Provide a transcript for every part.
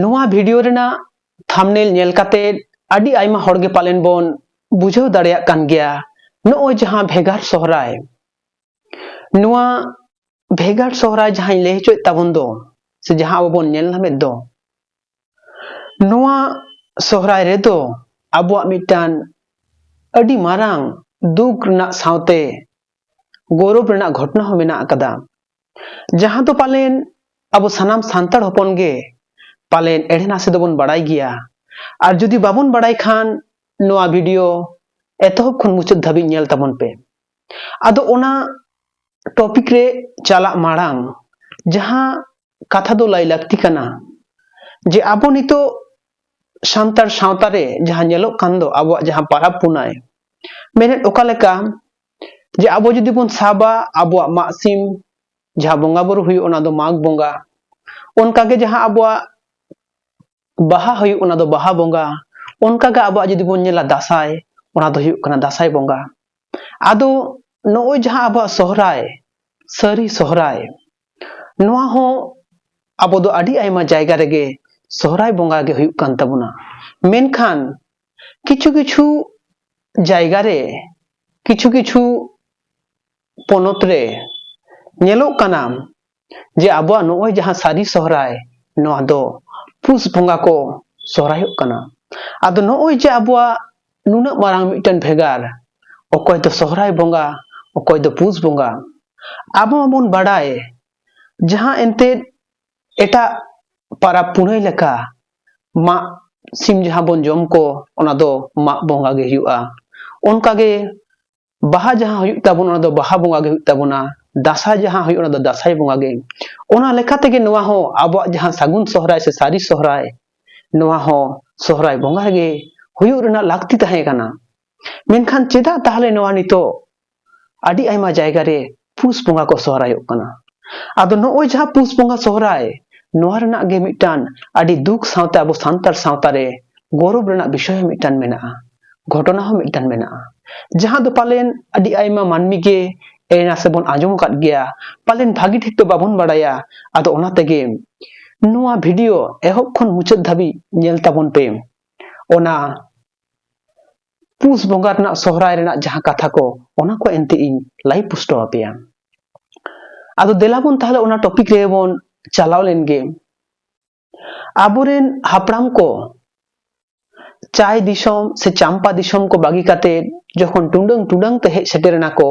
ᱱᱚᱣᱟ ᱵᱷᱤᱰᱤᱭᱳ ᱨᱮᱱᱟᱜ ᱛᱷᱟᱢᱱᱮᱞ ᱧᱮᱞ ᱠᱟᱛᱮᱫ ᱟᱹᱰᱤ ᱟᱭᱢᱟ ᱦᱚᱲ ᱜᱮ ᱯᱟᱞᱮᱱ ᱵᱚᱱ ᱵᱩᱡᱷᱟᱹᱣ ᱫᱟᱲᱮᱭᱟᱜ ᱠᱟᱱ ᱜᱮᱭᱟ ᱱᱚᱜᱼᱚᱭ ᱡᱟᱦᱟᱸ ᱵᱷᱮᱜᱟᱨ ᱥᱚᱦᱨᱟᱭ ᱱᱚᱣᱟ ᱵᱷᱮᱜᱟᱨ ᱥᱚᱦᱨᱟᱭ ᱡᱟᱦᱟᱸᱧ ᱞᱟᱹᱭ ᱦᱚᱪᱚᱭᱮᱫ ᱛᱟᱵᱚᱱ ᱫᱚ ᱥᱮ ᱡᱟᱦᱟᱸ ᱟᱵᱚ ᱵᱚᱱ ᱧᱮᱞ ᱧᱟᱢᱮᱫ ᱫᱚ ᱱᱚᱣᱟ ᱥᱚᱦᱨᱟᱭ ᱨᱮᱫᱚ ᱟᱵᱚᱣᱟᱜ ᱢᱤᱫᱴᱟᱝ ᱟᱹᱰᱤ ᱢᱟᱨᱟᱝ ᱫᱩᱠ ᱨᱮᱱᱟᱜ ᱥᱟᱶᱛᱮ ᱜᱚᱨᱚᱵ ᱨᱮᱱᱟᱜ ᱜᱷᱚᱴᱚᱱᱟ ᱦᱚᱸ ᱢᱮᱱᱟᱜ ᱟᱠᱟᱫᱟ ᱡᱟᱦᱟᱸ ᱫᱚ ᱯᱟᱞᱮᱱ ᱟᱵᱚ ᱥᱟᱱᱟᱢ ᱥᱟᱱᱛᱟᱲ ᱦᱚᱯᱚᱱ ᱜᱮ ᱯᱟᱞᱮᱱ ᱮᱲᱮ ᱱᱟᱥᱮ ᱫᱚᱵᱚᱱ ᱵᱟᱲᱟᱭ ᱜᱮᱭᱟ ᱟᱨ ᱡᱩᱫᱤ ᱵᱟᱵᱚᱱ ᱵᱟᱲᱟᱭ ᱠᱷᱟᱱ ᱱᱚᱣᱟ ᱵᱷᱤᱰᱤᱭᱳ ᱮᱛᱚᱦᱚᱵ ᱠᱷᱚᱱ ᱢᱩᱪᱟᱹᱫ ᱫᱷᱟᱹᱵᱤᱡ ᱧᱮᱞ ᱛᱟᱵᱚᱱ ᱯᱮ ᱟᱫᱚ ᱚᱱᱟ ᱴᱚᱯᱤᱠ ᱨᱮ ᱪᱟᱞᱟᱜ ᱢᱟᱲᱟᱝ ᱡᱟᱦᱟᱸ ᱠᱟᱛᱷᱟ ᱫᱚ ᱞᱟᱹᱭ ᱞᱟᱹᱠᱛᱤ ᱠᱟᱱᱟ ᱡᱮ ᱟᱵᱚ ᱱᱤᱛᱚᱜ ᱥᱟᱱᱛᱟᱲ ᱥᱟᱶᱛᱟ ᱨᱮ ᱡᱟᱦᱟᱸ ᱧᱮᱞᱚᱜ ᱠᱟᱱ ᱫᱚ ᱟᱵᱚᱣᱟᱜ ᱡᱟᱦᱟᱸ ᱯᱟᱨᱟᱵᱽ ᱯᱩᱱᱟᱭ ᱢᱮᱱᱮᱫ ᱚᱠᱟ ᱞᱮᱠᱟ ᱡᱮ ᱟᱵᱚ ᱡᱩᱫᱤ ᱵᱚᱱ ᱥᱟᱵᱟ ᱟᱵᱚᱣᱟᱜ ᱢᱟᱜ ᱥᱤᱢ ᱡᱟᱦᱟᱸ ᱵᱚᱸᱜᱟ ᱵᱩᱨᱩ ᱦᱩᱭᱩᱜ ᱚᱱᱟ ᱫᱚ ᱢᱟᱜᱽ ᱵᱚᱸᱜᱟ ᱚᱱᱠᱟᱜᱮ ᱡᱟᱦᱟᱸ ᱟᱵᱚᱣᱟᱜ ᱵᱟᱦᱟ ᱦᱩᱭᱩᱜ ᱚᱱᱟ ᱫᱚ ᱵᱟᱦᱟ ᱵᱚᱸᱜᱟ ᱚᱱᱠᱟᱜᱮ ᱟᱵᱚᱣᱟᱜ ᱡᱩᱫᱤ ᱵᱚᱱ ᱧᱮᱞᱟ ᱫᱟᱸᱥᱟᱭ ᱚᱱᱟ ᱫᱚ ᱦᱩᱭᱩᱜ ᱠᱟᱱᱟ ᱫᱟᱸᱥᱟᱭ ᱵᱚᱸᱜᱟ ᱟᱫᱚ ᱱᱚᱜᱼᱚᱭ ᱡᱟᱦᱟᱸ ᱟᱵᱚᱣᱟᱜ ᱥᱚᱦᱨᱟᱭ ᱥᱟᱹᱨᱤ ᱥᱚᱦᱨᱟᱭ ᱱᱚᱣᱟ ᱦᱚᱸ ᱟᱵᱚ ᱫᱚ ᱟᱹᱰᱤ ᱟᱭᱢᱟ ᱡᱟᱭᱜᱟ ᱨᱮᱜᱮ ᱥᱚᱦᱨᱟᱭ ᱵᱚᱸᱜᱟ ᱜᱮ ᱦᱩᱭᱩᱜ ᱠᱟᱱ ᱛᱟᱵᱚᱱᱟ ᱢᱮᱱᱠᱷᱟᱱ ᱠᱤᱪᱷᱩ ᱠᱤᱪᱷᱩ ᱡᱟᱭᱜᱟ ᱨᱮ ᱠᱤᱪᱷᱩ ᱠᱤᱪᱷᱩ ᱯᱚᱱᱚᱛ ᱨᱮ ᱧᱮᱞᱚᱜ ᱠᱟᱱᱟ ᱡᱮ ᱟᱵᱚᱣᱟᱜ ᱱᱚᱜᱼᱚᱭ ᱡᱟᱦᱟᱸ ᱥᱟᱹᱨᱤ ᱥᱚᱦᱨᱟᱭ ᱱᱚᱣᱟ ᱫᱚ ᱯᱩᱥ ᱵᱚᱸᱜᱟ ᱠᱚ ᱥᱚᱦᱨᱟᱭᱚᱜ ᱠᱟᱱᱟ ᱟᱫᱚ ᱱᱚᱜᱼᱚᱭ ᱡᱮ ᱟᱵᱚᱣᱟᱜ ᱱᱩᱱᱟᱹᱜ ᱢᱟᱨᱟᱝ ᱢᱤᱫᱴᱮᱱ ᱵᱷᱮᱜᱟᱨ ᱚᱠᱚᱭ ᱫᱚ ᱥᱚᱦᱨᱟᱭ ᱵᱚᱸᱜᱟ ᱚᱠᱚᱭ ᱫᱚ ᱯᱩᱥ ᱵᱚᱸᱜᱟ ᱟᱵᱚ ᱢᱟᱵᱚᱱ ᱵᱟᱲᱟᱭ ᱡᱟᱦᱟᱸ ᱮᱱᱛᱮᱫ ᱮᱴᱟᱜ ᱯᱟᱨᱟᱵᱽ ᱯᱩᱱᱟᱹᱭ ᱞᱮᱠᱟ ᱢᱟᱜ ᱥᱤᱢ ᱡᱟᱦᱟᱸ ᱵᱚᱱ ᱡᱚᱢ ᱠᱚ ᱚᱱᱟ ᱫᱚ ᱢᱟᱜ ᱵᱚᱸᱜᱟ ᱜᱮ ᱦᱩᱭᱩᱜᱼᱟ ᱚᱱᱠᱟᱜᱮ ᱵᱟᱦᱟ ᱡᱟᱦᱟᱸ ᱦᱩᱭᱩᱜ ᱛᱟᱵᱚᱱᱟ ᱚᱱᱟ ᱫᱚ ᱵᱟᱦᱟ ᱵᱚᱸᱜᱟ ᱜᱮ ᱦᱩᱭᱩᱜ ᱛᱟᱵᱚᱱᱟ ᱫᱟᱸᱥᱟᱭ ᱡᱟᱦᱟᱸ ᱦᱩᱭᱩᱜ ᱚᱱᱟ ᱫᱚ ᱫᱟᱸᱥᱟᱭ ᱵᱚᱸᱜᱟ ᱜᱮ ᱚᱱᱟ ᱞᱮᱠᱟ ᱛᱮᱜᱮ ᱱᱚᱣᱟ ᱦᱚᱸ ᱟᱵᱚᱣᱟᱜ ᱡᱟᱦᱟᱸ ᱥᱟᱹᱜᱩᱱ ᱥᱚᱦᱨᱟᱭ ᱥᱮ ᱥᱟᱹᱨᱤ ᱥᱚᱦᱨᱟᱭ ᱱᱚᱣᱟ ᱦᱚᱸ ᱥᱚᱦᱨᱟᱭ ᱵᱚᱸᱜᱟ ᱨᱮᱜᱮ ᱦᱩᱭᱩᱜ ᱨᱮᱱᱟᱜ ᱞᱟᱹᱠᱛᱤ ᱛᱟᱦᱮᱸ ᱠᱟᱱᱟ ᱢᱮᱱᱠᱷᱟᱱ ᱪᱮᱫᱟᱜ ᱛᱟᱦᱚᱞᱮ ᱱᱚᱣᱟ ᱱᱤᱛᱚᱜ ᱟᱹᱰᱤ ᱟᱭᱢᱟ ᱡᱟᱭᱜᱟ ᱨᱮ ᱯᱩᱥ ᱵᱚᱸᱜᱟ ᱠᱚ ᱥᱚᱦᱨᱟᱭᱚᱜ ᱠᱟᱱᱟ ᱟᱫᱚ ᱱᱚᱜᱼᱚᱭ ᱡᱟᱦᱟᱸ ᱯᱩᱥ ᱵᱚᱸᱜᱟ ᱥᱚᱦᱨᱟᱭ ᱱᱚᱣᱟ ᱨᱮᱱᱟᱜ ᱜᱮ ᱢᱤᱫᱴᱟᱝ ᱟᱹᱰᱤ ᱫᱩᱠ ᱥᱟᱶᱛᱮ ᱟᱵᱚ ᱥᱟᱱᱛᱟᱲ ᱥᱟᱶᱛᱟ ᱨᱮ ᱜᱚᱨᱚᱵ ᱨᱮᱱᱟᱜ ᱵᱤᱥᱚᱭ ᱦᱚᱸ ᱢᱤᱫᱴᱟᱝ ᱢᱮᱱᱟᱜᱼᱟ ᱜᱷᱚᱴᱚᱱᱟ ᱦᱚᱸ ᱢᱤᱫᱴᱟᱝ ᱢᱮᱱᱟᱜᱼᱟ ᱡᱟᱦᱟᱸ ᱫᱚ ᱯᱟᱞᱮᱱ ᱟᱹᱰᱤ ᱟᱭᱢᱟ ᱢᱟᱹᱱᱢᱤ ᱜᱮ ᱮᱱᱟ ᱥᱮᱵᱚᱱ ᱟᱸᱡᱚᱢ ᱟᱠᱟᱫ ᱜᱮᱭᱟ ᱯᱟᱞᱮᱱ ᱵᱷᱟᱹᱜᱤ ᱴᱷᱤᱠ ᱫᱚ ᱵᱟᱵᱚᱱ ᱵᱟᱲᱟᱭᱟ ᱟᱫᱚ ᱚᱱᱟ ᱛᱮᱜᱮ ᱱᱚᱣᱟ ᱵᱷᱤᱰᱤᱭᱳ ᱮᱦᱚᱵ ᱠᱷᱚᱱ ᱢᱩᱪᱟᱹᱫ ᱫᱷᱟᱹᱵᱤᱡ ᱧᱮᱞ ᱛᱟᱵᱚᱱ ᱯᱮ ᱚᱱᱟ ᱯᱩᱥ ᱵᱚᱸᱜᱟ ᱨᱮᱱᱟᱜ ᱥᱚᱦᱨᱟᱭ ᱨᱮᱱᱟᱜ ᱡᱟᱦᱟᱸ ᱠᱟᱛᱷᱟ ᱠᱚ ᱚᱱᱟ ᱠᱚ ᱮᱱᱛᱮ ᱤᱧ ᱞᱟᱹᱭ ᱯᱩᱥᱴᱟᱹᱣ ᱟᱯᱮᱭᱟ ᱟᱫᱚ ᱫᱮᱞᱟ ᱵᱚᱱ ᱛᱟᱦᱚᱞᱮ ᱚᱱᱟ ᱴᱚᱯᱤᱠ ᱨᱮ ᱵᱚᱱ ᱪᱟᱞᱟᱣ ᱞᱮᱱ ᱜᱮ ᱟᱵᱚᱨᱮᱱ ᱦᱟᱯᱲᱟᱢ ᱠᱚ ᱪᱟᱭ ᱫᱤᱥᱚᱢ ᱥᱮ ᱪᱟᱢᱯᱟ ᱫᱤᱥᱚᱢ ᱠᱚ ᱵᱟᱹᱜᱤ ᱠᱟᱛᱮ ᱡᱚᱠᱷᱚᱱ ᱴᱩᱰᱟᱹᱝ ᱴᱩᱰᱟᱹᱝ ᱛᱮ ᱦᱮᱡ ᱥᱮᱴᱮᱨ ᱮᱱᱟ ᱠᱚ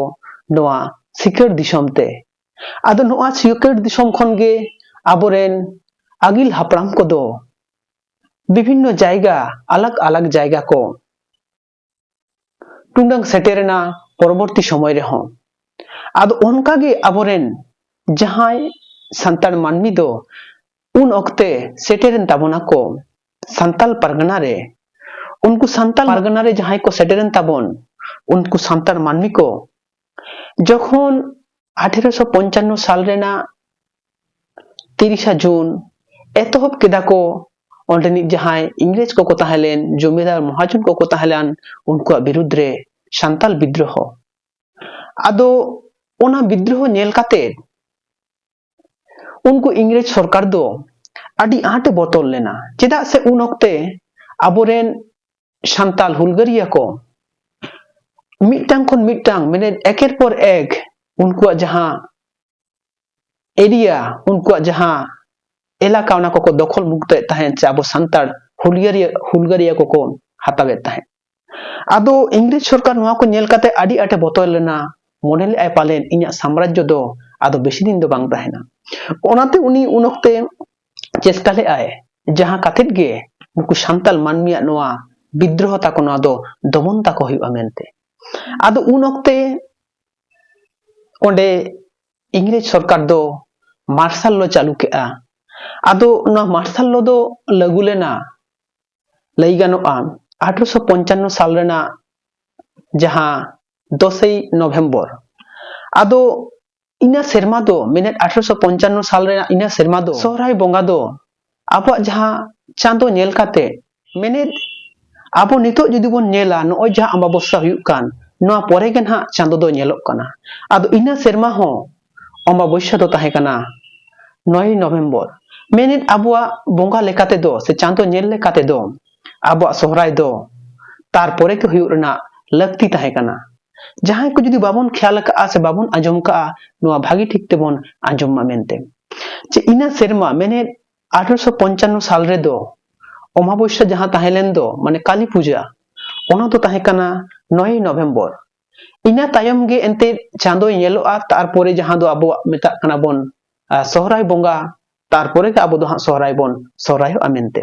ᱱᱚᱣᱟ ᱥᱤᱠᱟᱹᱨ ᱫᱤᱥᱚᱢ ᱛᱮ ᱟᱫᱚ ᱱᱚᱣᱟ ᱥᱤᱠᱟᱹᱨ ᱫᱤᱥᱚᱢ ᱠᱷᱚᱱ ᱜᱮ ᱟᱵᱚᱨᱮᱱ ᱟᱹᱜᱤᱞ ᱦᱟᱯᱲᱟᱢ ᱠᱚᱫᱚ ᱵᱤᱵᱷᱤᱱᱱᱚ ᱡᱟᱭᱜᱟ ᱟᱞᱟᱜᱽ ᱟᱞᱟᱜᱽ ᱡᱟᱭᱜᱟ ᱠᱚ ᱴᱩᱰᱟᱹᱝ ᱥᱮᱴᱮᱨᱮᱱᱟ ᱯᱚᱨᱚᱵᱚᱨᱛᱤ ᱥᱚᱢᱚᱭ ᱨᱮᱦᱚᱸ ᱟᱫᱚ ᱚᱱᱠᱟ ᱜᱮ ᱟᱵᱚ ᱨᱮᱱ ᱡᱟᱦᱟᱸᱭ ᱥᱟᱱᱛᱟᱲ ᱢᱟᱹᱱᱢᱤ ᱫᱚ ᱩᱱ ᱚᱠᱛᱮ ᱥᱮᱴᱮᱨᱮᱱ ᱛᱟᱵᱚᱱᱟ ᱠᱚ ᱥᱟᱱᱛᱟᱲ ᱯᱟᱨᱜᱟᱱᱟ ᱨᱮ ᱩᱱᱠᱩ ᱥᱟᱱᱛᱟᱲ ᱯᱟᱨᱜᱟᱱᱟ ᱨᱮ ᱡᱟᱦᱟᱸᱭ ᱠᱚ ᱥᱮᱴᱮᱨᱮᱱ ᱛᱟᱵᱚᱱ ᱩᱱᱠᱩ ᱥᱟᱱᱛᱟᱲ ᱢᱟᱹᱱᱢᱤ ᱠᱚ ᱡᱚᱠᱷᱚᱱ ᱟᱴᱷᱮᱨᱚᱥᱚ ᱯᱚᱧᱪᱟᱱᱱᱚ ᱥᱟᱞ ᱨᱮᱱᱟᱜ ᱛᱤᱨᱤᱥᱟ ᱡᱩᱱ ᱮᱛᱚᱦᱚᱵ ᱠᱮᱫᱟ ᱠᱚ ᱚᱸᱰᱮᱱᱤᱡ ᱡᱟᱦᱟᱸᱭ ᱤᱝᱨᱮᱡᱽ ᱠᱚᱠᱚ ᱛᱟᱦᱮᱸ ᱞᱮᱱ ᱡᱚᱢᱤᱫᱟᱨ ᱢᱚᱦᱟᱡᱚᱱ ᱠᱚᱠᱚ ᱛᱟᱦᱮᱸ ᱞᱮᱱ ᱩᱱᱠᱩᱣᱟᱜ ᱵᱤᱨᱩᱫᱽ ᱨᱮ ᱥᱟᱱᱛᱟᱞ ᱵᱤᱫᱽᱫᱨᱳᱦᱚ ᱟᱫᱚ ᱚᱱᱟ ᱵᱤᱫᱽᱫᱨᱳᱦᱚ ᱧᱮᱞ ᱠᱟᱛᱮ ᱩᱱᱠᱩ ᱤᱝᱨᱮᱡᱽ ᱥᱚᱨᱠᱟᱨ ᱫᱚ ᱟᱹᱰᱤ ᱟᱸᱴᱮ ᱵᱚᱛᱚᱨ ᱞᱮᱱᱟ ᱪᱮᱫᱟᱜ ᱥᱮ ᱩᱱ ᱚᱠᱛᱮ ᱟᱵᱚᱨᱮᱱ ᱥᱟᱱᱛᱟᱞ ᱦᱩᱞᱜᱟᱹᱨᱤᱭᱟᱹ ᱠᱚ ᱢᱤᱫᱴᱟᱝ ᱠᱷᱚᱱ ᱢᱤᱫᱴᱟᱝ ᱢᱟᱱᱮ ᱮᱠᱮᱨ ᱯᱚᱨ ᱮᱠ ᱩᱱᱠᱩᱣᱟᱜ ᱡᱟᱦᱟᱸ ᱮᱨᱤᱭᱟ ᱩᱱᱠᱩᱣᱟᱜ ᱡᱟᱦᱟᱸ ᱮᱞᱟᱠᱟ ᱚᱱᱟ ᱠᱚᱠᱚ ᱫᱚᱠᱷᱚᱞ ᱢᱩᱠᱛᱚᱭᱮᱫ ᱛᱟᱦᱮᱸᱫ ᱥᱮ ᱟᱵᱚ ᱥᱟᱱᱛᱟᱲ ᱦᱩᱞᱜᱟᱹᱨᱤᱭᱟᱹ ᱦᱩᱞᱜᱟᱹᱨᱤᱭᱟᱹ ᱠᱚᱠᱚ ᱦᱟᱛᱟᱣᱮᱫ ᱛᱟᱦᱮᱸᱫ ᱟᱫᱚ ᱤᱝᱨᱮᱡᱽ ᱥᱚᱨᱠᱟᱨ ᱱᱚᱣᱟ ᱠᱚ ᱧᱮᱞ ᱠᱟᱛᱮ ᱟᱹᱰᱤ ᱟᱸᱴᱮ ᱵᱚᱛᱚᱨ ᱞᱮᱱᱟ ᱢᱚᱱᱮ ᱞᱮᱫᱟᱭ ᱯᱟᱞᱮᱱ ᱤᱧᱟᱹᱜ ᱥᱟᱢᱨᱟᱡᱽᱡᱚ ᱫᱚ ᱟᱫᱚ ᱵᱮᱥᱤ ᱫᱤᱱ ᱫᱚ ᱵᱟᱝ ᱛᱟᱦᱮᱱᱟ ᱚᱱᱟᱛᱮ ᱩᱱᱤ ᱩᱱ ᱚᱠᱛᱮ ᱪᱮᱥᱴᱟ ᱞᱮᱫᱟᱭ ᱡᱟᱦᱟᱸ ᱠᱟᱛᱮ ᱜᱮ ᱱᱩᱠᱩ ᱥᱟᱱᱛᱟᱲ ᱢᱟᱹᱱᱢᱤᱭᱟᱜ ᱱᱚᱣᱟ ᱵᱤᱫᱽᱫᱨᱳᱦᱚ ᱛᱟᱠᱚ ᱱᱚᱣᱟ ᱫᱚ ᱫᱚᱢᱚᱱ ᱛᱟᱠᱚ ᱦᱩᱭᱩᱜᱼᱟ ᱢᱮᱱᱛᱮ ᱟᱫᱚ ᱩᱱ ᱚᱠᱛᱮ ᱚᱸᱰᱮ ᱤᱝᱨᱮᱡᱽ ᱥᱚᱨᱠᱟᱨ ᱫᱚ ᱢᱟᱨᱥᱟᱞ ᱞᱚ ᱪᱟᱹᱞᱩ ᱠᱮᱫᱼᱟ ᱟᱫᱚ ᱱᱚᱣᱟ ᱢᱟᱨᱥᱟᱞ ᱞᱚ ᱫᱚ ᱞᱟᱹᱜᱩ ᱞᱮᱱᱟ ᱞᱟᱹᱭ ᱜᱟᱱᱚᱜᱼᱟ ᱟᱴᱷᱨᱚᱥᱚ ᱯᱚᱧᱪᱟᱱᱱᱚ ᱥᱟᱞ ᱨᱮᱱᱟᱜ ᱡᱟᱦᱟᱸ ᱫᱚᱥᱮᱭ ᱱᱚᱵᱷᱮᱢᱵᱚᱨ ᱟᱫᱚ ᱤᱱᱟᱹ ᱥᱮᱨᱢᱟ ᱫᱚ ᱢᱮᱱᱮᱫ ᱟᱴᱷᱨᱚᱥᱚ ᱯᱚᱧᱪᱟᱱᱱᱚ ᱥᱟᱞ ᱨᱮᱱᱟᱜ ᱤᱱᱟᱹ ᱥᱮᱨᱢᱟ ᱫᱚ ᱥᱚᱦᱨᱟᱭ ᱵᱚᱸᱜᱟ ᱫᱚ ᱟᱵᱚᱣᱟᱜ ᱡᱟᱦᱟᱸ ᱪᱟᱸᱫᱚ ᱧᱮᱞ ᱠᱟᱛᱮ ᱢᱮᱱᱮᱫ ᱟᱵᱚ ᱱᱤᱛᱚᱜ ᱡᱩᱫᱤ ᱵᱚᱱ ᱧᱮᱞᱟ ᱱᱚᱜᱼᱚᱭ ᱡᱟᱦᱟᱸ ᱟᱢᱵᱟᱵᱚᱥᱥᱟ ᱦᱩᱭᱩᱜ ᱠᱟᱱ ᱱᱚᱣᱟ ᱯᱚᱨᱮ ᱜᱮ ᱱᱟᱦᱟᱜ ᱪᱟᱸᱫᱚ ᱫᱚ ᱧᱮᱞᱚᱜ ᱠᱟᱱᱟ ᱟᱫᱚ ᱤᱱᱟᱹ ᱥᱮᱨᱢᱟ ᱦᱚᱸ ᱚᱢᱵᱟᱵᱚᱥᱭᱟ ᱫᱚ ᱛᱟᱦᱮᱸ ᱠᱟᱱᱟ ᱱᱚᱭ ᱱᱚᱵᱷᱮᱢᱵᱚᱨ ᱢᱮᱱᱮᱫ ᱟᱵᱚᱣᱟᱜ ᱵᱚᱸᱜᱟ ᱞᱮᱠᱟ ᱛᱮᱫᱚ ᱥᱮ ᱪᱟᱸᱫᱚ ᱧᱮᱞ ᱞᱮᱠᱟ ᱛᱮᱫᱚ ᱟᱵᱚᱣᱟᱜ ᱥᱚᱦᱨᱟᱭ ᱫᱚ ᱛᱟᱨᱯᱚᱨᱮ ᱜᱮ ᱦᱩᱭᱩᱜ ᱨᱮᱱᱟᱜ ᱞᱟᱹᱠᱛᱤ ᱛᱟᱦᱮᱸ ᱠᱟᱱᱟ ᱡᱟᱦᱟᱸᱭ ᱠᱚ ᱡᱩᱫᱤ ᱵᱟᱵᱚᱱ ᱠᱷᱮᱭᱟᱞ ᱟᱠᱟᱫᱼᱟ ᱥᱮ ᱵᱟᱵᱚᱱ ᱟᱸᱡᱚᱢ ᱠᱟᱜᱼᱟ ᱱᱚᱣᱟ ᱵᱷᱟᱹᱜᱤ ᱴᱷᱤᱠ ᱛᱮᱵᱚᱱ ᱟᱸᱡᱚᱢ ᱢᱟ ᱢᱮᱱᱛᱮ ᱡᱮ ᱤᱱᱟᱹ ᱥᱮᱨᱢᱟ ᱢᱮᱱᱮᱫ ᱟᱴᱷᱨᱚᱥᱚ ᱯᱚᱧᱪᱟᱱᱱᱚ ᱥᱟᱞ ᱨᱮᱫᱚ ᱚᱢᱟᱵᱚᱥᱭᱟ ᱡᱟᱦᱟᱸ ᱛᱟᱦᱮᱸ ᱞᱮᱱ ᱫᱚ ᱢᱟᱱᱮ ᱠᱟᱞᱤ ᱯᱩᱡᱟ ᱚᱱᱟ ᱫᱚ ᱛᱟᱦᱮᱸ ᱠᱟᱱᱟ ᱱᱚᱭᱮ ᱱᱚᱵᱷᱮᱢᱵᱚᱨ ᱤᱱᱟᱹ ᱛᱟᱭᱚᱢ ᱜᱮ ᱮᱱᱛᱮᱫ ᱪᱟᱸᱫᱚᱭ ᱧᱮᱞᱚᱜᱼᱟ ᱛᱟᱨᱯᱚᱨᱮ ᱡᱟᱦᱟᱸ ᱫᱚ ᱟᱵᱚᱣᱟᱜ ᱢᱮᱛᱟᱜ ᱠᱟᱱᱟ ᱵᱚᱱ ᱥᱚᱦᱨᱟᱭ ᱵᱚᱸᱜᱟ ᱛᱟᱨᱯᱚᱨᱮ ᱜᱮ ᱟᱵᱚ ᱫᱚ ᱦᱟᱸᱜ ᱥᱚᱦᱨᱟᱭ ᱵᱚᱱ ᱥᱚᱦᱨᱟᱭᱚᱜᱼᱟ ᱢᱮᱱᱛᱮ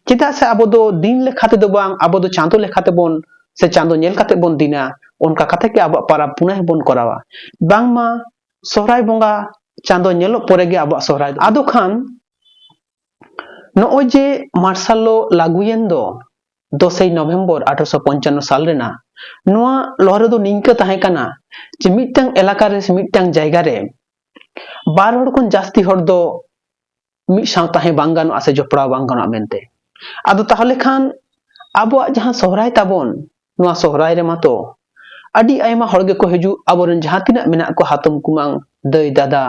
ᱪᱮᱫᱟᱜ ᱥᱮ ᱟᱵᱚ ᱫᱚ ᱫᱤᱱ ᱞᱮᱠᱷᱟ ᱛᱮᱫᱚ ᱵᱟᱝ ᱟᱵᱚ ᱫᱚ ᱪᱟᱸᱫᱚ ᱞᱮᱠᱷᱟ ᱛᱮᱵᱚᱱ ᱥᱮ ᱪᱟᱸᱫᱚ ᱧᱮᱞ ᱠᱟᱛᱮ ᱵᱚᱱ ᱫᱤᱱᱟ ᱚᱱᱠᱟ ᱠᱟᱛᱮ ᱜᱮ ᱟᱵᱚᱣᱟᱜ ᱯᱟᱨᱟᱵᱽ ᱯᱩᱱᱟᱹᱭ ᱵᱚᱱ ᱠᱚᱨᱟᱣᱟ ᱵᱟᱝᱢᱟ ᱥᱚᱦᱨᱟᱭ ᱵᱚᱸᱜᱟ ᱪᱟᱸᱫᱚ ᱧᱮᱞᱚᱜ ᱯᱚᱨᱮ ᱜᱮ ᱟᱵᱚᱣᱟᱜ ᱥᱚᱦᱨᱟᱭ ᱟᱫᱚ ᱠᱷᱟᱱ ᱱᱚᱜᱼᱚᱭ ᱡᱮ ᱢᱟᱨᱥᱟᱞ ᱞᱚ ᱞᱟᱹᱜᱩᱭᱮᱱ ᱫᱚ ᱫᱚᱥᱮᱭ ᱱᱚᱵᱷᱮᱢᱵᱚᱨ ᱟᱴᱷᱨᱚᱥᱚ ᱯᱚᱧᱪᱟᱱᱱᱚ ᱥᱟᱞ ᱨᱮᱱᱟᱜ ᱱᱚᱣᱟ ᱞᱚᱦᱨᱮ ᱫᱚ ᱱᱤᱝᱠᱟᱹ ᱛᱟᱦᱮᱸ ᱠᱟᱱᱟ ᱡᱮ ᱢᱤᱫᱴᱟᱝ ᱮᱞᱟᱠᱟ ᱨᱮ ᱥᱮ ᱢᱤᱫᱴᱟᱝ ᱡᱟᱭᱜᱟ ᱨᱮ ᱵᱟᱨ ᱦᱚᱲ ᱠᱷᱚᱱ ᱡᱟᱹᱥᱛᱤ ᱦᱚᱲ ᱫᱚ ᱢᱤᱫ ᱥᱟᱶ ᱛᱟᱦᱮᱸ ᱵᱟᱝ ᱜᱟᱱᱚᱜᱼᱟ ᱥᱮ ᱡᱚᱯᱲᱟᱣ ᱵᱟᱝ ᱜᱟᱱᱚᱜᱼᱟ ᱢᱮᱱᱛᱮ ᱟᱫᱚ ᱛᱟᱦᱚᱞᱮ ᱠᱷᱟᱱ ᱟᱵᱚᱣᱟᱜ ᱡᱟᱦᱟᱸ ᱥᱚᱦᱨᱟᱭ ᱛᱟᱵᱚᱱ ᱱᱚᱣᱟ ᱥᱚᱦᱨᱟᱭ ᱨᱮᱢᱟ ᱛᱚ ᱟᱹᱰᱤ ᱟᱭᱢᱟ ᱦᱚᱲ ᱜᱮᱠᱚ ᱦᱤᱡᱩᱜ ᱟᱵᱚᱨᱮᱱ ᱡᱟᱦᱟᱸ ᱛᱤᱱᱟᱹᱜ ᱢᱮᱱᱟᱜ ᱠᱚ ᱦᱟᱛᱚᱢ ᱠᱩᱢᱟᱝ ᱫᱟᱹᱭ ᱫᱟᱫᱟ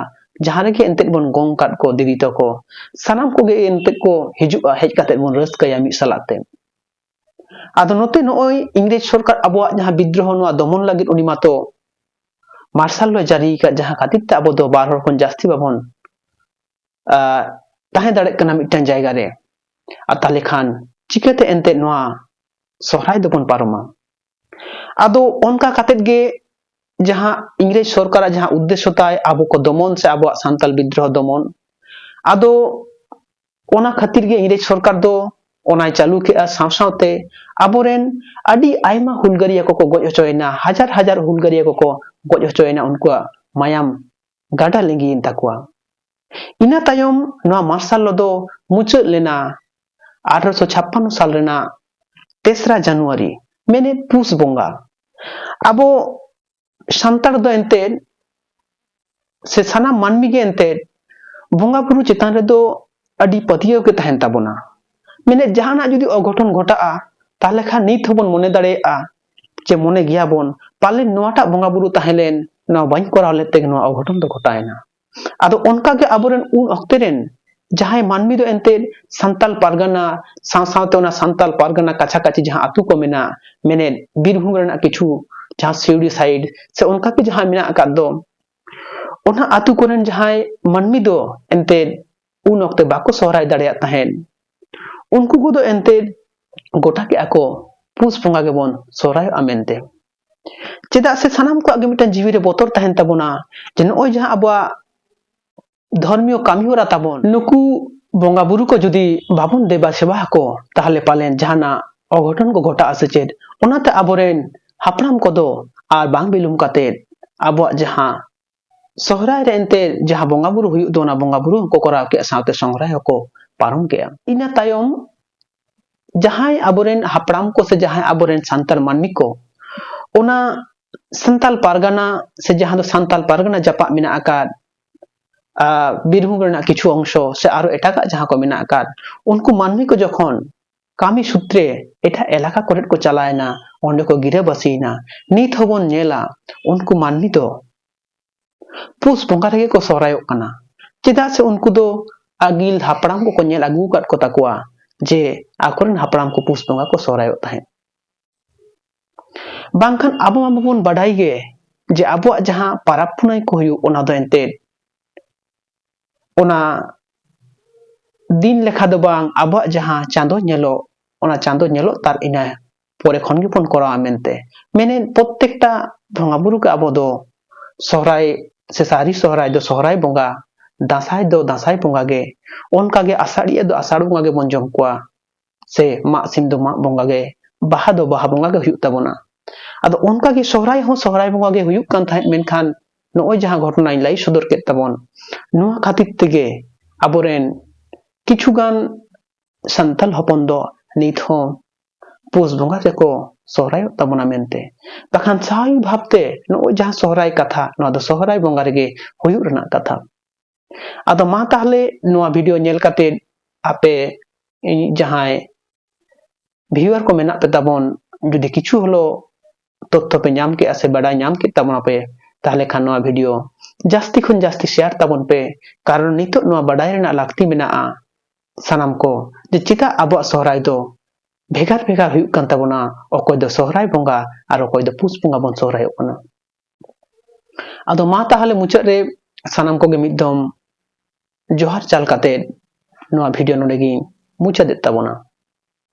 ᱡᱟᱦᱟᱸ ᱨᱮᱜᱮ ᱮᱱᱛᱮᱫ ᱵᱚᱱ ᱜᱚᱝ ᱠᱟᱫ ᱠᱚ ᱫᱤᱫᱤ ᱛᱟᱠᱚ ᱥᱟᱱᱟᱢ ᱠᱚᱜᱮ ᱮᱱᱛᱮᱫ ᱠᱚ ᱦᱤᱡᱩᱜᱼᱟ ᱦᱮᱡ ᱠᱟᱛᱮ ᱵᱚᱱ ᱨᱟᱹᱥᱠᱟᱹᱭᱟ ᱢᱤᱫ ᱥᱟᱞᱟᱜ ᱛᱮ ᱟᱫᱚ ᱱᱚᱛᱮ ᱱᱚᱜᱼᱚᱭ ᱤᱝᱨᱮᱡᱽ ᱥᱚᱨᱠᱟᱨ ᱟᱵᱚᱣᱟᱜ ᱡᱟᱦᱟᱸ ᱵᱤᱫᱽᱨᱳᱦᱚ ᱱᱚᱣᱟ ᱫᱚᱢᱚᱱ ᱞᱟᱹᱜᱤᱫ ᱩᱱᱤ ᱢᱟᱛᱚ ᱢᱟᱨᱥᱟᱞ ᱞᱚ ᱡᱟᱹᱨᱤ ᱟᱠᱟᱫ ᱡᱟᱦᱟᱸ ᱠᱷᱟᱹᱛᱤᱨ ᱛᱮ ᱟᱵᱚ ᱫᱚ ᱵᱟᱨ ᱦᱚᱲ ᱠᱷᱚᱱ ᱡᱟᱹᱥᱛᱤ ᱵᱟᱵᱚᱱ ᱛᱟᱦᱮᱸ ᱫᱟᱲᱮᱭᱟᱜ ᱠᱟᱱᱟ ᱢᱤᱫᱴᱟᱝ ᱡᱟᱭᱜᱟ ᱨᱮ ᱟᱨ ᱛᱟᱦᱚᱞᱮ ᱠᱷᱟᱱ ᱪᱤᱠᱟᱹᱛᱮ ᱮᱱᱛᱮᱫ ᱱᱚᱣᱟ ᱥᱚᱦᱨᱟᱭ ᱫᱚᱵᱚᱱ ᱯᱟᱨᱚᱢᱟ ᱟᱫᱚ ᱚᱱᱠᱟ ᱠᱟᱛᱮᱫ ᱜᱮ ᱡᱟᱦᱟᱸ ᱤᱝᱨᱮᱡᱽ ᱥᱚᱨᱠᱟᱨᱟᱜ ᱡᱟᱦᱟᱸ ᱩᱫᱽᱫᱮᱥᱥᱚ ᱛᱟᱭ ᱟᱵᱚ ᱠᱚ ᱫᱚᱢᱚᱱ ᱥᱮ ᱟᱵᱚᱣᱟᱜ ᱥᱟᱱᱛᱟᱞ ᱵᱤᱫᱽᱫᱨᱳᱦᱚ ᱫᱚᱢᱚᱱ ᱟᱫᱚ ᱚᱱᱟ ᱠᱷᱟᱹᱛᱤᱨ ᱜᱮ ᱤᱝᱨᱮᱡᱽ ᱥᱚᱨᱠᱟᱨ ᱫᱚ ᱚᱱᱟᱭ ᱪᱟᱹᱞᱩ ᱠᱮᱫᱼᱟ ᱥᱟᱶ ᱥᱟᱶᱛᱮ ᱟᱵᱚᱨᱮᱱ ᱟᱹᱰᱤ ᱟᱭᱢᱟ ᱦᱩᱞᱜᱟᱹᱨᱤᱭᱟᱹ ᱠᱚᱠᱚ ᱜᱚᱡ ᱦᱚᱪᱚᱭᱮᱱᱟ ᱦᱟᱡᱟᱨ ᱦᱟᱡᱟᱨ ᱦᱩᱞᱜᱟᱹᱨᱤᱭᱟᱹ ᱠᱚᱠᱚ ᱜᱚᱡ ᱦᱚᱪᱚᱭᱮᱱᱟ ᱩᱱᱠᱩᱣᱟᱜ ᱢᱟᱭᱟᱢ ᱜᱟᱰᱟ ᱞᱤᱸᱜᱤᱭᱮᱱ ᱛᱟᱠᱚᱣᱟ ᱤᱱᱟᱹ ᱛᱟᱭᱚᱢ ᱱᱚᱣᱟ ᱢᱟᱨᱥᱟᱞ ᱞᱚ ᱫᱚ ᱢᱩᱪᱟᱹᱫ ᱞᱮᱱᱟ ᱟᱴᱷᱨᱚᱥᱚ ᱪᱷᱟᱯᱯᱟᱱᱱᱚ ᱥᱟᱞ ᱨᱮᱱᱟᱜ ᱛᱮᱥᱨᱟ ᱡᱟᱱᱩᱣᱟᱨᱤ ᱢᱮᱱᱮᱫ ᱯᱩᱥ ᱵᱚᱸᱜᱟ ᱟᱵᱚ ᱥᱟᱱᱛᱟᱲ ᱫᱚ ᱮᱱᱛᱮᱫ ᱥᱮ ᱥᱟᱱᱟᱢ ᱢᱟᱹᱱᱢᱤ ᱜᱮ ᱮᱱᱛᱮᱫ ᱵᱚᱸᱜᱟ ᱵᱩᱨᱩ ᱪᱮᱛᱟᱱ ᱨᱮᱫᱚ ᱟᱹᱰᱤ ᱯᱟᱹᱛᱭᱟᱹᱣ ᱜᱮ ᱛᱟᱦᱮᱱ ᱛᱟᱵᱚᱱᱟ ᱢᱮᱱᱮᱫ ᱡᱟᱦᱟᱱᱟᱜ ᱡᱩᱫᱤ ᱚᱜᱷᱚᱴᱚᱱ ᱜᱷᱚᱴᱟᱜᱼᱟ ᱛᱟᱦᱚᱞᱮ ᱠᱷᱟᱱ ᱱᱤᱛ ᱦᱚᱸᱵᱚᱱ ᱢᱚᱱᱮ ᱫᱟᱲᱮᱭᱟᱜᱼᱟ ᱪᱮ ᱢᱚᱱᱮ ᱜᱮᱭᱟ ᱵᱚᱱ ᱯᱟᱞᱮᱱ ᱱᱚᱣᱟᱴᱟᱜ ᱵᱚᱸᱜᱟ ᱵᱩᱨᱩ ᱛᱟᱦᱮᱸ ᱞᱮᱱ ᱱᱚᱣᱟ ᱵᱟᱹᱧ ᱠᱚᱨᱟᱣ ᱞᱮᱫ ᱛᱮᱜᱮ ᱱᱚᱣᱟ ᱚᱜᱷᱚᱴᱚᱱ ᱫᱚ ᱜᱷᱚᱴᱟᱣᱮᱱᱟ ᱟᱫᱚ ᱚᱱᱠᱟᱜᱮ ᱟᱵᱚᱨᱮᱱ ᱩᱱ ᱚᱠᱛᱮ ᱨᱮᱱ ᱡᱟᱦᱟᱸᱭ ᱢᱟᱹᱱᱢᱤ ᱫᱚ ᱮᱱᱛᱮᱫ ᱥᱟᱱᱛᱟᱲ ᱯᱟᱨᱜᱟᱱᱟ ᱥᱟᱶ ᱥᱟᱶᱛᱮ ᱚᱱᱟ ᱥᱟᱱᱛᱟᱲ ᱯᱟᱨᱜᱟᱱᱟ ᱠᱟᱪᱷᱟ ᱠᱟᱪᱷᱤ ᱡᱟᱦᱟᱸ ᱟᱛᱳ ᱠᱚ ᱢᱮᱱᱟᱜ ᱢᱮᱱᱮᱫ ᱵᱤᱨᱵᱷᱩᱢ ᱨᱮᱱᱟᱜ ᱠᱤᱪᱷᱩ ᱡᱟᱦᱟᱸ ᱥᱤᱣᱲᱤ ᱥᱟᱭᱤᱰ ᱥᱮ ᱚᱱᱠᱟᱜᱮ ᱡᱟᱦᱟᱸ ᱢᱮᱱᱟᱜ ᱟᱠᱟᱫ ᱫᱚ ᱚᱱᱟ ᱟᱛᱳ ᱠᱚᱨᱮᱱ ᱡᱟᱦᱟᱸᱭ ᱢᱟᱹᱱᱢᱤ ᱫᱚ ᱮᱱᱛᱮᱫ ᱩᱱ ᱚᱠᱛᱮ ᱵᱟᱠᱚ ᱥᱚᱦᱨᱟᱭ ᱫᱟᱲᱮᱭᱟᱜ ᱛᱟᱦᱮᱸᱫ ᱩᱱᱠᱩ ᱠᱚᱫᱚ ᱮᱱᱛᱮᱫ ᱜᱚᱴᱟ ᱠᱮᱜᱼᱟ ᱠᱚ ᱯᱩᱥ ᱵᱚᱸᱜᱟ ᱜᱮᱵᱚᱱ ᱥᱚᱦᱨᱟᱭᱚᱜᱼᱟ ᱢᱮᱱᱛᱮ ᱪᱮᱫᱟᱜ ᱥᱮ ᱥᱟᱱᱟᱢ ᱠᱚᱣᱟᱜ ᱜᱮ ᱢᱤᱫᱴᱟᱝ ᱡᱤᱣᱤᱨᱮ ᱵᱚᱛᱚᱨ ᱛᱟᱦᱮᱱ ᱛᱟᱵᱚᱱᱟ ᱡᱮ ᱱᱚᱜᱼᱚᱭ ᱡᱟᱦᱟᱸ ᱟᱵᱚᱣᱟᱜ ᱫᱷᱚᱨᱢᱤᱭᱚ ᱠᱟᱹᱢᱤ ᱦᱚᱨᱟ ᱛᱟᱵᱚᱱ ᱱᱩᱠᱩ ᱵᱚᱸᱜᱟ ᱵᱩᱨᱩ ᱠᱚ ᱡᱩᱫᱤ ᱵᱟᱵᱚᱱ ᱫᱮᱵᱟ ᱥᱮᱵᱟ ᱟᱠᱚ ᱛᱟᱦᱚᱞᱮ ᱯᱟᱞᱮᱱ ᱡᱟᱦᱟᱱᱟᱜ ᱚᱜᱷᱚᱴᱚᱱ ᱠᱚ ᱜᱷᱚᱴᱟᱜᱼᱟ ᱥᱮ ᱪᱮᱫ ᱚᱱᱟᱛᱮ ᱟᱵᱚᱨᱮᱱ ᱦᱟᱯᱲᱟᱢ ᱠᱚᱫᱚ ᱟᱨ ᱵᱟᱝ ᱵᱤᱞᱚᱢ ᱠᱟᱛᱮᱫ ᱟᱵᱚᱣᱟᱜ ᱡᱟᱦᱟᱸ ᱥᱚᱦᱨᱟᱭ ᱨᱮ ᱮᱱᱛᱮ ᱡᱟᱦᱟᱸ ᱵᱚᱸᱜᱟ ᱵᱩᱨᱩ ᱦᱩᱭᱩᱜ ᱫᱚ ᱚᱱᱟ ᱵᱚᱸᱜᱟ ᱵᱩᱨᱩ ᱦᱚᱸᱠᱚ ᱠᱚᱨᱟᱣ ᱠᱮᱫᱼᱟ ᱥᱟᱶᱛᱮ ᱥᱚᱦᱨᱟᱭ ᱦᱚᱸᱠᱚ ᱯᱟᱨᱚᱢ ᱠᱮᱫᱼᱟ ᱤᱱᱟᱹ ᱛᱟᱭᱚᱢ ᱡᱟᱦᱟᱸᱭ ᱟᱵᱚᱨᱮᱱ ᱦᱟᱯᱲᱟᱢ ᱠᱚ ᱥᱮ ᱡᱟᱦᱟᱸᱭ ᱟᱵᱚᱨᱮᱱ ᱥᱟᱱᱛᱟᱲ ᱢᱟᱹᱱᱢᱤ ᱠᱚ ᱚᱱᱟ ᱥᱟᱱᱛᱟᱲ ᱯᱟᱨᱜᱟᱱᱟ ᱥᱮ ᱡᱟᱦᱟᱸ ᱫᱚ ᱥᱟᱱᱛᱟᱲ ᱯᱟᱨᱜᱟᱱᱟ ᱡᱟᱯᱟᱜ ᱢᱮᱱᱟᱜ ᱟᱠᱟᱫ ᱵᱤᱨᱵᱷᱩᱢ ᱨᱮᱱᱟᱜ ᱠᱤᱪᱷᱩ ᱚᱝᱥᱚ ᱥᱮ ᱟᱨᱚ ᱮᱴᱟᱜᱟᱜ ᱡᱟᱦᱟᱸ ᱠᱚ ᱢᱮᱱᱟᱜ ᱟᱠᱟᱫ ᱩᱱᱠᱩ ᱢᱟᱹᱱᱢᱤ ᱠᱚ ᱡᱚᱠᱷᱚᱱ ᱠᱟᱹᱢᱤ ᱥᱩᱛᱨᱮ ᱮᱴᱟᱜ ᱮᱞᱟᱠᱟ ᱠᱚᱨᱮᱫ ᱠᱚ ᱪᱟᱞᱟᱣ ᱮᱱᱟ, ᱚᱸᱰᱮ ᱠᱚ ᱜᱤᱨᱟᱹ ᱵᱟᱹᱥᱤ ᱮᱱᱟ᱾ ᱱᱤᱛ ᱦᱚᱸ ᱵᱚᱱ ᱧᱮᱞᱟ ᱩᱱᱠᱩ ᱢᱟᱹᱱᱢᱤ ᱫᱚ ᱯᱩᱥ ᱵᱚᱸᱜᱟ ᱨᱮᱜᱮ ᱠᱚ ᱥᱚᱦᱨᱟᱭᱚᱜ ᱠᱟᱱᱟ᱾ ᱪᱮᱫᱟᱜ ᱥᱮ ᱩᱱᱠᱩ ᱫᱚ ᱟᱹᱜᱤᱞ ᱦᱟᱯᱲᱟᱢ ᱠᱚᱠᱚ ᱧᱮᱞ ᱟᱹᱜᱩ ᱟᱠᱟᱫ ᱠᱚ ᱛᱟᱠᱚᱣᱟ ᱡᱮ ᱟᱠᱚ ᱨᱮᱱ ᱦᱟᱯᱲᱟᱢ ᱠᱚ ᱯᱩᱥ ᱵᱚᱸᱜᱟ ᱠᱚ ᱥᱚᱦᱨᱟᱭᱚᱜ ᱛᱟᱦᱮᱸᱫ᱾ ᱵᱟᱝᱠᱷᱟᱱ ᱟᱵᱚ ᱢᱟ ᱵᱟᱵᱚᱱ ᱵᱟᱰᱟᱭ ᱜᱮ ᱡᱮ ᱟᱵᱚᱣᱟᱜ ᱡᱟᱦᱟᱸ ᱯᱟᱨᱟᱵᱽ ᱯᱩᱱᱟᱹᱭ ᱠᱚ ᱦᱩᱭᱩᱜ ᱚᱱᱟ ᱫᱚ ᱮᱱᱛᱮᱫ ᱚᱱᱟ ᱫᱤᱱ ᱞᱮᱠᱷᱟ ᱫᱚ ᱵᱟᱝ ᱟᱵᱚᱣᱟᱜ ᱡᱟᱦᱟᱸ ᱪᱟᱸᱫᱚ ᱧᱮᱞᱚᱜ ᱚᱱᱟ ᱪᱟᱸᱫᱚ ᱧᱮᱞᱚᱜ ᱛᱟᱨ ᱤᱱᱟᱹ ᱯᱚᱨᱮ ᱠᱷᱚᱱ ᱜᱮᱵᱚᱱ ᱠᱚᱨᱟᱣᱟ ᱢᱮᱱᱛᱮ ᱢᱮᱱᱮᱫ ᱯᱨᱚᱛᱮᱠᱴᱟ ᱵᱚᱸᱜᱟ ᱵᱩᱨᱩ ᱜᱮ ᱟᱵᱚ ᱫᱚ ᱥᱚᱦᱨᱟᱭ ᱥᱮ ᱥᱟᱹᱨᱤ ᱥᱚᱦᱨᱟᱭ ᱫᱚ ᱥᱚᱦᱨᱟᱭ ᱵᱚᱸᱜᱟ ᱫᱟᱸᱥᱟᱭ ᱫᱚ ᱫᱟᱸᱥᱟᱭ ᱵᱚᱸᱜᱟ ᱜᱮ ᱚᱱᱠᱟᱜᱮ ᱟᱥᱟᱲᱤᱭᱟᱹ ᱫᱚ ᱟᱥᱟᱲ ᱵᱚᱸᱜᱟ ᱜᱮᱵᱚᱱ ᱡᱚᱢ ᱠᱚᱣᱟ ᱥᱮ ᱢᱟᱜ ᱥᱤᱢ ᱫᱚ ᱢᱟᱜ ᱵᱚᱸᱜᱟ ᱜᱮ ᱵᱟᱦᱟ ᱫᱚ ᱵᱟᱦᱟ ᱵᱚᱸᱜᱟ ᱜᱮ ᱦᱩᱭᱩᱜ ᱛᱟᱵᱚᱱᱟ ᱟᱫᱚ ᱚᱱᱠᱟ ᱜᱮ ᱥᱚᱦᱨᱟᱭ ᱦᱚᱸ ᱥᱚᱦᱨᱟᱭ ᱵᱚᱸᱜᱟ ᱜᱮ ᱦᱩᱭᱩᱜ ᱠᱟᱱ ᱛᱟᱦᱮᱸᱫ ᱢᱮᱱᱠᱷᱟᱱ ᱱᱚᱜᱼᱚᱭ ᱡᱟᱦᱟᱸ ᱜᱷᱚᱴᱚᱱᱟᱧ ᱞᱟᱹᱭ ᱥᱚᱫᱚᱨ ᱠᱮᱫ ᱛᱟᱵᱚᱱ ᱱᱚᱣᱟ ᱠᱷᱟᱹᱛᱤᱨ ᱛᱮᱜᱮ ᱟᱵᱚᱨᱮᱱ ᱠᱤᱪᱷᱩᱜᱟᱱ ᱥᱟᱱᱛᱟᱲ ᱦᱚᱯᱚᱱ ᱫᱚ ᱱᱤᱛ ᱦᱚᱸ ᱯᱩᱥ ᱵᱚᱸᱜᱟ ᱜᱮᱠᱚ ᱥᱚᱦᱨᱟᱭᱚᱜ ᱛᱟᱵᱚᱱᱟ ᱢᱮᱱᱛᱮ ᱵᱟᱠᱷᱟᱱ ᱥᱟᱵᱷᱟᱵᱤᱠ ᱵᱷᱟᱵᱛᱮ ᱱᱚᱜᱼᱚᱭ ᱡᱟᱦᱟᱸ ᱥᱚᱦᱨᱟᱭ ᱠᱟᱛᱷᱟ ᱱᱚᱣᱟ ᱫᱚ ᱥᱚᱦᱨᱟᱭ ᱵᱚᱸᱜᱟ ᱨᱮᱜᱮ ᱦᱩᱭᱩᱜ ᱨᱮᱱᱟᱜ ᱠᱟᱛᱷᱟ ᱟᱫᱚ ᱢᱟ ᱛᱟᱦᱞᱮ ᱱᱚᱣᱟ ᱵᱷᱤᱰᱤᱭᱳ ᱧᱮᱞ ᱠᱟᱛᱮ ᱟᱯᱮ ᱤᱧ ᱡᱟᱦᱟᱸᱭ ᱵᱷᱤᱭᱩᱣᱟᱨ ᱠᱚ ᱢᱮᱱᱟᱜ ᱯᱮ ᱛᱟᱵᱚᱱ ᱡᱩᱫᱤ ᱠᱤᱪᱷᱩ ᱦᱚᱞᱚ ᱛᱚᱛᱛᱷᱚ ᱯᱮ ᱧᱟᱢ ᱠᱮᱜᱼᱟ ᱥᱮ ᱵᱟᱰᱟᱭ ᱧᱟᱢ ᱠᱮᱫ ᱛᱟᱵᱚᱱᱟ ᱯᱮ ᱛᱟᱦᱞᱮ ᱠᱷᱟᱱ ᱱᱚᱣᱟ ᱵᱷᱤᱰᱤᱭᱳ ᱡᱟᱹᱥᱛᱤ ᱠᱷᱚᱱ ᱡᱟᱹᱥᱛᱤ ᱥᱮᱭᱟᱨ ᱛᱟᱵᱚᱱ ᱯᱮ ᱠᱟᱨᱚᱱ ᱱᱤᱛᱚᱜ ᱱᱚᱣᱟ ᱵᱟᱰᱟᱭ ᱨᱮᱱᱟᱜ ᱞᱟᱹᱠᱛᱤ ᱢᱮᱱᱟᱜᱼᱟ ᱥᱟᱱᱟᱢ ᱠᱚ ᱡᱮ ᱪᱮᱫᱟᱜ ᱟᱵᱚᱣᱟᱜ ᱥᱚᱦᱨᱟᱭ ᱫᱚ ᱵᱷᱮᱜᱟᱨ ᱵᱷᱮᱜᱟᱨ ᱦᱩᱭᱩᱜ ᱠᱟᱱ ᱛᱟᱵᱚᱱᱟ ᱚᱠᱚᱭ ᱫᱚ ᱥᱚᱦᱨᱟᱭ ᱵᱚᱸᱜᱟ ᱟᱨ ᱚᱠᱚᱭ ᱫᱚ ᱯᱩᱥ ᱵᱚᱸᱜᱟ ᱵᱚᱱ ᱥᱚᱦᱨᱟᱭᱚᱜ ᱠᱟᱱᱟ ᱟᱫᱚ ᱢᱟ ᱛᱟᱦᱚᱞᱮ ᱢᱩᱪᱟᱹᱫ ᱨᱮ ᱥᱟᱱᱟᱢ ᱠᱚᱜᱮ ᱢᱤᱫ ᱫᱚᱢ ᱡᱚᱦᱟᱨ ᱪᱟᱞ ᱠᱟᱛᱮ ᱱᱚᱣᱟ ᱵᱷᱤᱰᱤᱭᱳ ᱱᱚᱰᱮ ᱜᱤᱧ ᱢᱩᱪᱟᱹᱫᱮᱫ ᱛᱟᱵᱚᱱᱟ